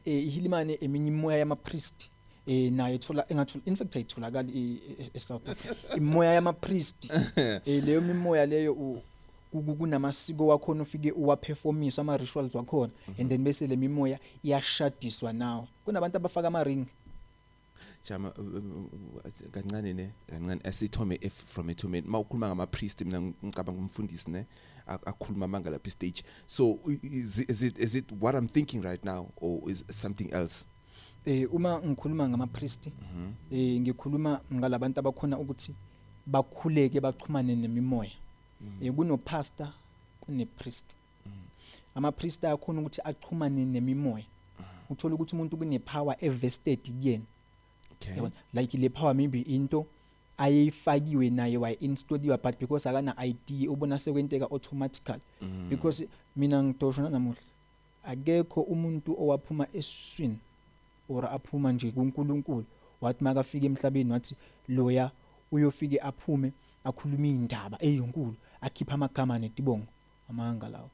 eh ihilimane eminye imoya yama priest eh naye ethola engathola in fact ayitholakali e- e- e South Africa imoya yama priest eh leyo mimoya leyo u- ku- ku- kunamasiko wakhona ufike uwaperformisa ama rituals wakhona and then bese lemimoya iyashadiswa nawo kunabantu abafaka ama ring Jama uh, uh, uh, kancane ne kancane asithome if from it to me mawukhuluma ngama priest mina ngicabanga umfundisi ne akhuluma amanga lapha stage so is, is it is it what i'm thinking right now or is something else eh uma ngikhuluma ngama priest mhm. eh ngikhuluma ngalabantu abakhona ukuthi bakhuleke bachumane nemimoya mhm. eh kuno pastor kune priest amapriest ayakhona ukuthi achumane nemimoya uthola ukuthi umuntu kunepower evested kuyena okay yabona like le power maybe into ayeyifakiwe naye wa installed but because akana ID ubona sekwenteka automatically mm. because mina ngidosho namuhla akekho umuntu owaphuma eswini or aphuma nje kuNkulunkulu wathi makafika emhlabeni wathi loya uyofike aphume akhuluma indaba eyinkulu akhipha amagama netibongo amanga lawo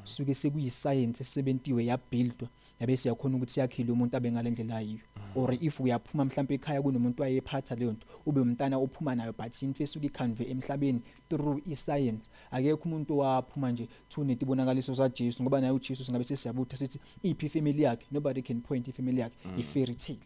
suke sekuyisayensi esebentiwe yabuildwa yabe siyakhona ukuthi yakhile umuntu abe ngalendlela yiyo or if uyaphuma mhlawumbe ekhaya kunomuntu wayephatha leyo nto ube umntana ophuma nayo but into esuke ikhanve emhlabeni through iscience akekho umuntu owaphuma nje thune tibonakaliso saJesu ngoba naye uJesu singabe sesiyabutha sithi iphi family yakhe nobody can point ifamily yakhe mm. ifairy tale